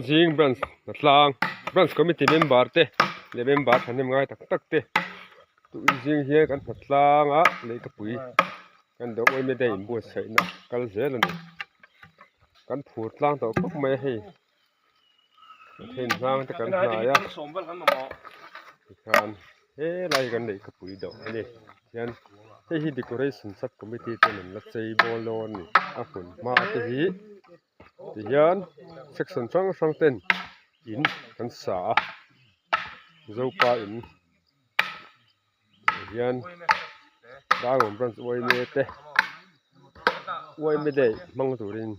zing branch a tlang branch committee member te leh member thahnem ngai tak tak te tun zing hian kan hnath tlang a lei ka pui kan duh awm e daih buatsaih na kal zel a ni kan phur tlang tawh khawp mai a hei. Pathian hlang te kan hnaia tikhan helai kan neih ka pui dauh ani hian hei hi decoration sub committee ten an la chei bawr lo a ni a hun hma te hi tihian section hrang hrang ten in kan sa a zopa in-- hei hian darwin branch uaine te uaina daih hmang turin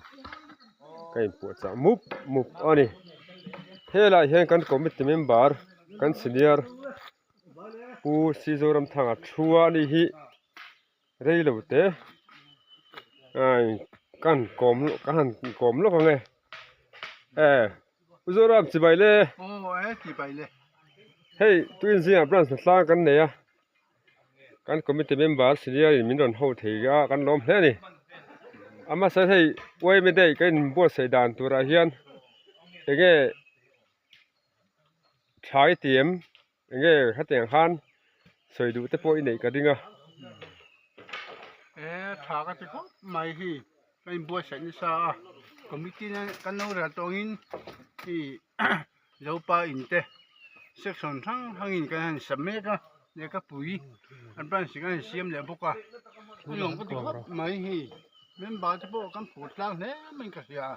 ka inpuahchah mup mup a ni helai ah hian kan committee member kan senior pu zi zoram thanga thu a ni hi. Rei lo te ai ka han kawm ka han kawm lawk ange eh u Zoram chibai le aw eh chibai le hei tuiin zinga branch hna tlang kan nei a kan committee member senior in min rawn ho thei a kan lawm hle a ni a hmasa hei yma day ka inbuatsaih dan turah hian eng nge thlai tih em. Enge hetiang khan sawi duh te pawh i neih ka ding a. E tha ka ti khawp mai hi ka in buatsaih nasa a committee na kan lo rel tawng in i zopa in te section hrang hrang in kan han sa mek a lehka pui a branch kan han siam leh bawk a a nuam ka ti khawp mai hi member te pawh kan put tlang hle mai ka hria a.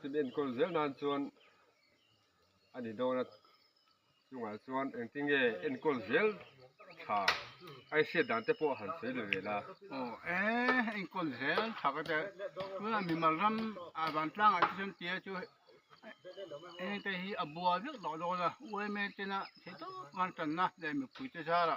Tin enkawl zel nan chuan a ni dawn a, chungah chuan engtinge enkawl zel tha aiset dan te pawh han sawi leh ve la. Aw eee enkawl zel tha ka tia, tunah mimal ram ah van tlangah te chuan tia chu heng te hi a buai vek loh dawn a, UMA tena thei tawp a han tanna leh mipui te zara.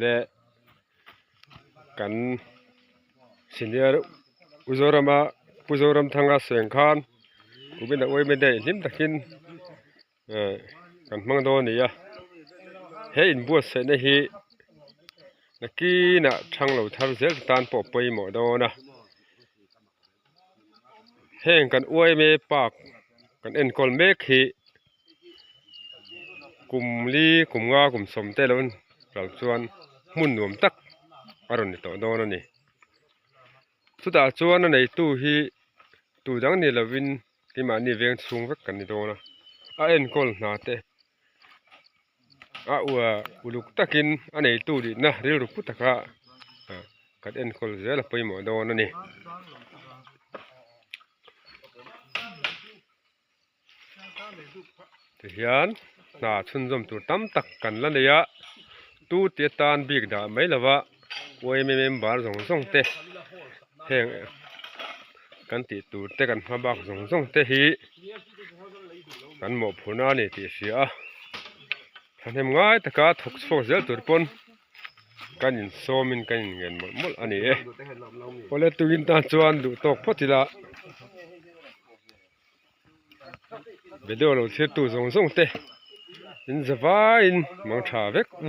leh kan senior u zorama pu zoramthanga seng khan ubinaawm awm e daih hlim takin. eh kan hmang dawn a ni a he in buatsaihna hi nakin a thang lo thar zel te tan pawh pawimawh dawn a heng kan uaime park kan enkawl mek hi kum li kum nga kum sawm te lo ral chuan hmun nuam tak a rawn ni tawh dawn a ni. Chutah chuan a neitu hi tu dang ni lovin keimahni veng chhung vek kan ni dawn a, a enkawl hna te a ua uluk takin a neitu dihna rilru pu taka kan enkawl zel a pawimawh dawn a ni. tihian hna chhunzawm tur tam tak kan la nei a tu te tan bik dah mai lo va oaimi member zawng zawng te heng kan tih tur te kan hma bak zawng zawng te hi kan mawhphurh na a ni tih a hria a thahnem ngai taka thawk chhuak zel tur pawn kan insawm in kan inngen mawlh mawlh a ni e awle tuin tan chuan duh tawk phawt ila. Video lo thlir tu zawng zawng te in za vai in mangtha vek u.